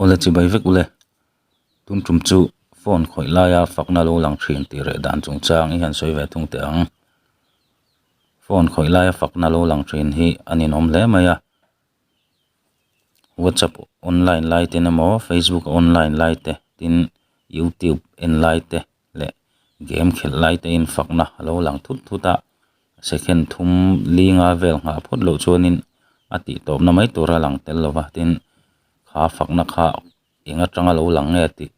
Aw le chibai vek ule, tun tum chu phone khawih laia fakna lo lang thin tih reh dan chung chang i han sawi ve thung teh ang. Phone khawih laia fakna lo lang thin hi a ni nawm hle mai a. Whatsapp online laite emaw, Facebook online laite tin YouTube en laite. leh game khelh lai te in fakna a lo lang thut thut a, second thum linga vel nghah phawt loh chuanin a tih tawpna mai tur a lang tel lo va, tin, kha fakna kha eng atanga lo lang nge tih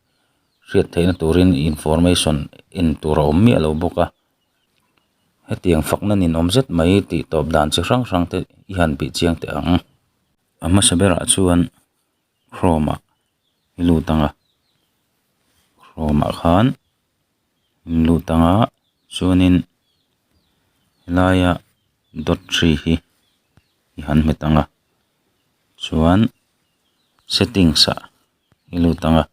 hriat theihna turin information en tur a awm miah lo bawk a, hetiang fakna ninawm zet mai tih tawp dan chi hrang hrang te i han bih chiang teh ang. A hmasa berah chuan Chrome ah i lut ang a, Chrome ah khan in lut ang a chuanin helaia dot three hi i han hmet ang a chuan settings ah i lut ang a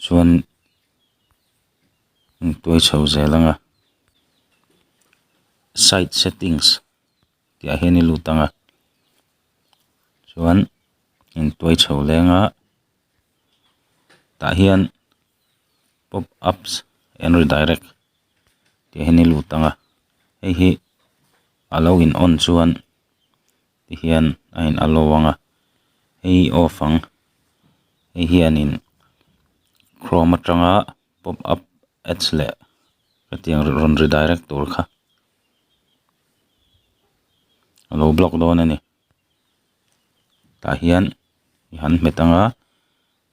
chuan in tuai chho zel ang a site settings. tihah hian i lut ang a, chuan in tuai chho leng a, tah hian pop ups and redirect tih hian i lut ang a, hei hi a lo in on chuan ti hian a in allow ang a, hei hi off ang, hei hian in chrome atanga pop up ads leh hetiang rawn redirect tur kha. alo block dawn ani tah hian i han hmet anga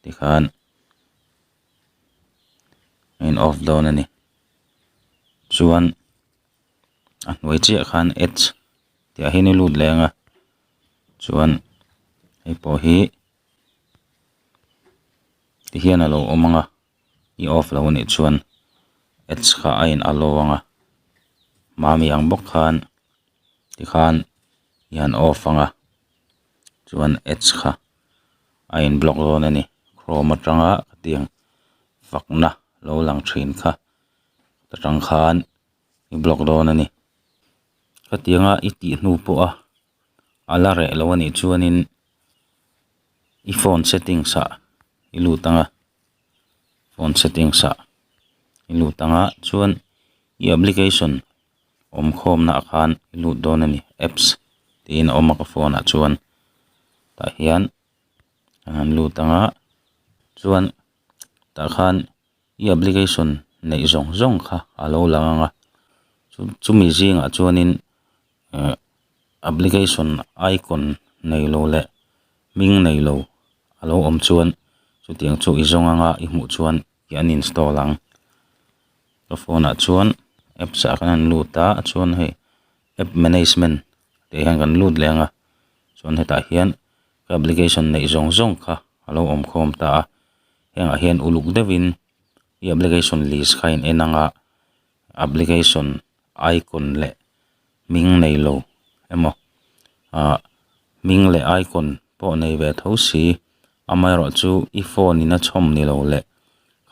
tikhan a in off dawn ani chuan a hnuai chiah khan add tih ah hian i lut leh anga chuan hei pawh hi ti hian alo awm anga. I off lo a nih chuan ads kha a in allow ang a mahmi ang bawk khan tikhan i han off ang a chuan ads kha a in block dawn a ni chrome atanga hetiang fakna lo lang thin kha ta tang khan i block dawn a ni hetianga i tih hnu pawh a a la reh lo a nih chuan in i phone settings ah i lut ang a. phone settings ah i lut ang a chuan i application awm khawm na ah khan i lut dawn a ni apps tiin a awm a ka phone ah chuan tah hian a han lut ang a chuan tah khan i application neih zawng zawng kha a lo lang ang a chu chumi zingah chuan in-- application icon nei lo leh hming nei lo a lo awm chuan chutiang chu i zawng anga i hmuh chuan i uninstall ang ka phone ah chuan apps ah khan a rawn lut a chuan hei app management tih khan kan lut leh anga chuan hetah hian ka application nei zawng zawng kha a lo awm khawm ta a hengah hian uluk deuhin i application list kha a inenang a. application icon leh hming nei lo emaw ah hming leh icon pawh nei ve tho si amaherawh chu i phone in a chhawm ni lo leh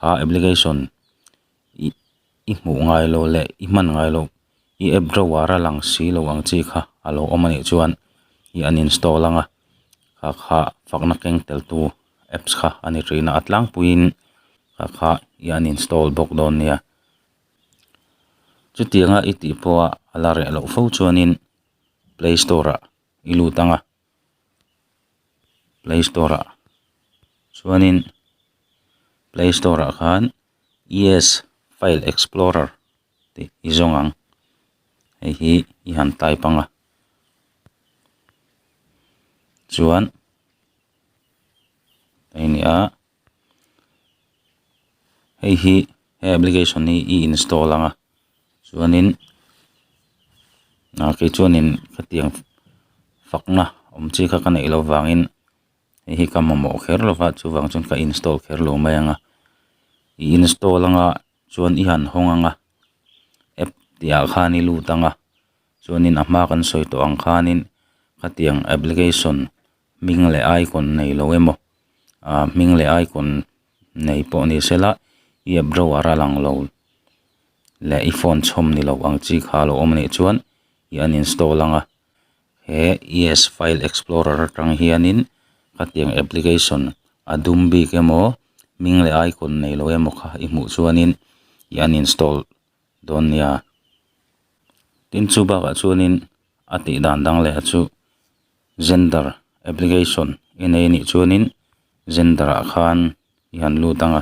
a application ih i hmuh ngai lo leh i hman ngai loh i app drawer a lang si lo ang chi kha a lo awm a nih chuan i uninstall anga kha kha fakna keng tel tu apps kha a ni thin a a tlangpuiin kha kha i uninstall bawk dawn nia. Chutianga i tih pawha a la reh loh fo chuanin play store-ah i lut ang a, play store-ah chuanin play store-ah khan ES file explorer tih i zawng ang, hei hi i han type ang a, chuan hei a ni a. hei hi he application hi i install ang a chuanin ah kei chuanin khatiang fakna awm chi kha ka neih loh vangin hei hi ka mamawh kher lo va chuvang chuan ka install kher lo mai ang a i install anga chuan i han hawng ang a app tih ah khan i lut ang a chuanin a hma kan sawi tawh ang khanin khatiang application -- hming leh aikawn nei lo emaw aah hming leh aikawn nei pawh ni sela i app drawer a lang lo leh i phone chhawm ni loh ang chi kha a lo awm a nih chuan i uninstall anga he es file explorer atang hianin khatiang application a dum bik emaw hming leh aikawn nei lo emaw kha i hmuh chuanin i uninstall-- dawn nia. Tin chu bakah chuanin a tih dan dang leh a chu gender application i nei anih chuanin gender ah khan i han lut ang a,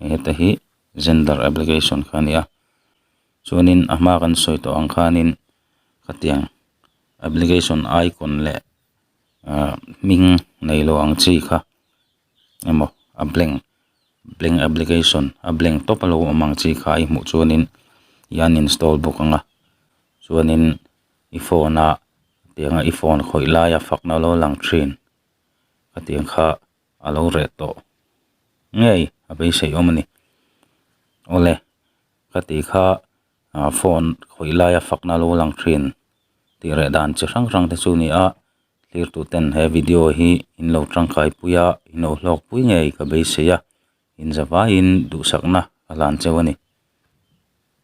heta hi gender application kha a ni a, chuanin a hma kan sawi tawh ang khanin khatiang application icon leh ahh hming neilo ang chi kha. emaw a blank blank application a blank tawp a lo awm ang chi kha i hmuh chuan in i uninstall bawk ang a chuan in i phone a tiang a i phone khawih lai a fakna a lo lang thin a tiang kha a lo reh tawh ngei a beisei awm a ni aw le ka ti kha phone khawih lai a fakna a lo lang thin tih reh dan chi hrang hrang te chu a ni a. Tlirtuten he video hi in lo tangkai pui a, in lo hlawk pui ngei ka beisei a, inzavaiin duhsakna a hlan cheu a ni.